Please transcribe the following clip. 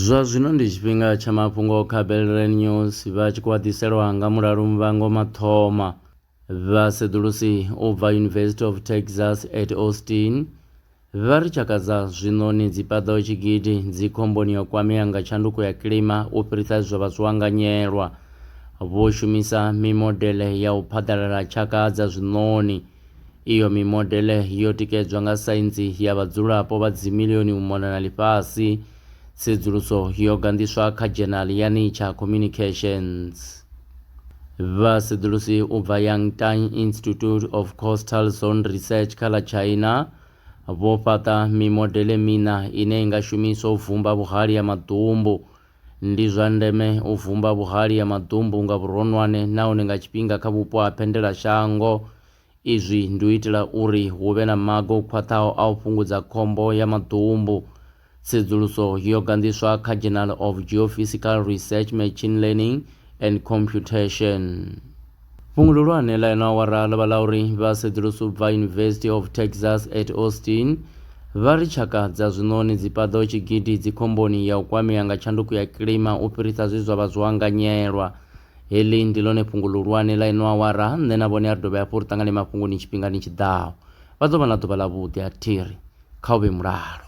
Zwa zwino ndi tshifhinga tsha mafhungo kha Belrand News vha tshi khou ḓiselwa nga mulalu Muvhango Mathoma. Vhaseḓulusi u bva University of Texas at Austin vha ri tshaka dza zwiṋoni dzi paḓaho tshigidi dzi khomboni ya u kwamea nga tshanduko ya kilima u fhirisa zwe zwa vha zwo anganyelwa. Vho shumisa mimodele ya u phaḓalala tshaka dza zwiṋoni. Iyo mimodele yo tikedzwa nga saintsi ya vhadzulapo vha dzimilioni u mona na ḽifhasi. Tsedzuluso yo ganḓiswa kha dzhenali ya Nature Communications. Vhasedzulusi u bva Yangtang Institute of Coastal Zone Research kha ḽa China vho fhaṱa mimodele miṋa ine i nga shumiswa u vumba vhuhali ha maḓumbu Ndi zwa ndeme u vumba vhuhali ha maḓumbu nga vhuronwane nahone nga tshifhinga kha vhupo ha phendelashango. Izwi ndi u itela uri hu vhe na maga o khwaṱhaho a u fhungudza khombo ya maḓumbu. Tsedzuluso yo ganḓiswa kha Journal of Geophysical Research Machine Learning and Computation. Fhungo ḽihulwane ḽa ino awara ḽo vha ḽa uri vha sedzulusi u bva University of Texas at Austin vha ri tshaka dza zwiṋoni dzi paḓaho tshigidi dzi khomboni ya u kwamea nga tshanduko ya kilima u fhirisa zwe zwa vha zwo anganyelwa. Heḽi ndi ḽone fhungo ḽihulwane ḽa ino awara, nṋe na vhone a ri dovhe hafhu ri ṱangane mafhungoni tshifhingani tshi ḓaho. Vha ḓo vha na ḓuvha ḽavhuḓi, a thi ri. Kha u vhe mulalo.